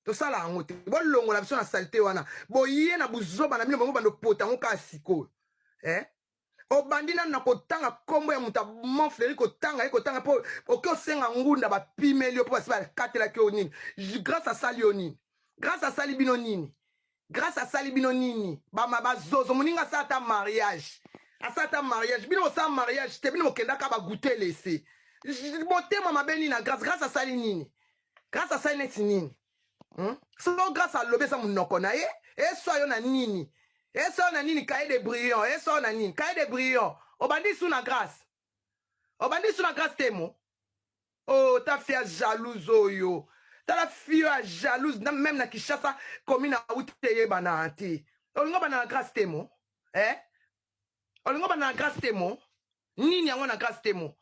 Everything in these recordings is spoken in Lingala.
tosala yango te bolongola biso na salite wana boye na buzoba na bino bango bando pota yango kaka sikoyo eh? obandi nanu na kotanga nkombo ya moto amon fleri kotanga ye kotanga mpo oke osenga ngunda bapimeli yo mpo basi bakatelaki yo nini grace asali yo nini grace asali bino nini grace asali bino nini bama bazozo moninga asala ata mariage asala ata mariage bino bosala mariage te bino bokendaka bagute lese motema mabe nini na grace grace asali nini grace asali neti nini hmm? solo grace alobi eza monoko na ye eswa yo na nini eswa yo na nini kaye de brillant eswa yo na nini kaye de brillant obandi su na grace obandi lisu na grace temo o oh, ta fille ya jalouse oyo tala fille ya jalouse meme na kinshasa commune auti eyebana te olingo bana na grace temo eh? olingo bana na grace temo nini yango na grace temo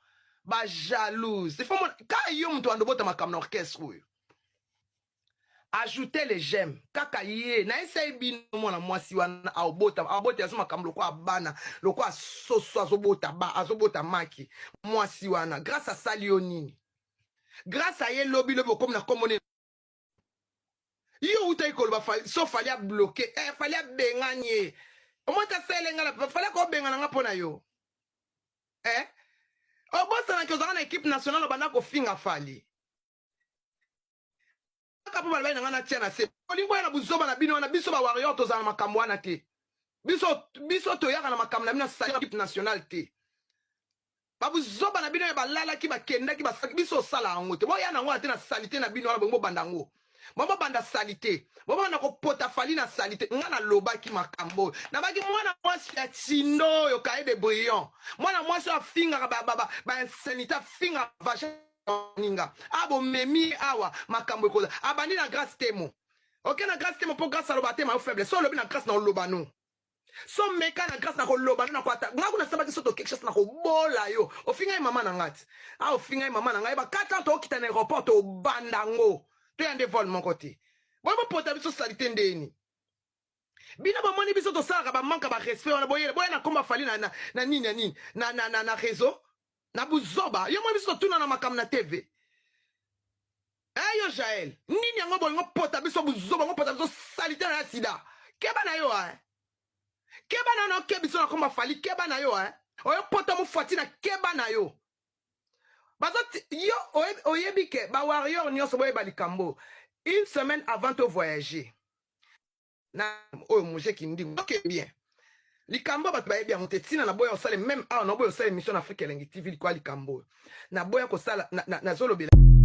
ba jalouse ifo ka yo moto andobota makambo na orchestre oyo ajoute le j'aime kaka ye na esaye bino mwana mwasi wana aobota aobota azo makambo lokola bana lokola soso azobota ba azobota maki mwasi wana grâce asali yo nini grâce aye lobi lobi okomi na nkombo nini yo outaki koloba so fali abloke eh, fali abengani ye omoi tasele ngai na fali akobengana ngai mpo na yo eh? obosanaki ozalaka na ekipe nationale obanda kofinga fali kaka mpo balobaki na ngai natia na se bolingo ya na buzoba na bino wana biso ba warrior tozala na makambo wana te biso biso toyaka na makambo na bino asali equipe nationale te babuzoba na bino ya balalaki bakendaki basaki biso osala yango te boya nango wana te na salite na bino wana bongo bobanda yango bongo banda salite bongo banda kopota fali na salite nga nalobaki makambo oyo nabaki mwana mwasi ya tindo oyo kaye de brillant mwana mwasi oyo afingaka bainsanité afingaka vagin baninga a bomemi ye awa makambo ekola abandi na grace temo oke na grace temo mpo grace aloba te mayo faible so olobi na grace na oloba no so meka na grace na koloba no na kwata ngai kuna sabaki soto quelque chose na kobola yo ofinga ye mama na ngai ti a ofinga ye mama na ngai ba 4 ans tookita na aéroport tobanda ngo toya nde vol moko te boye bopota biso salite ndeni bino bomoni biso tosalaka bamanka barespect wana boyele boya na komba fali na, na, na nini na nini na, na, na, na réseau na buzoba yo moni biso totuna na makambo na tv e eh, yo jael nini yango bolingo pota biso buzoba yango pota biso salite na ya sida keba na yo eh. keba na yo na oke biso na komba fali keba na yo eh. oyo pota mofuati na keba na yo bazo yo oyebi ke bawarrior nyonso boyeba likambo une semaine avant to voyager na oyo muse kindingu ok bien likambo bato bayebi yango te ntina naboya kosala meme awa naboya kosala émission na afrika elengi tv likoya likambo oyo naboya kosala nazolobela na, na, na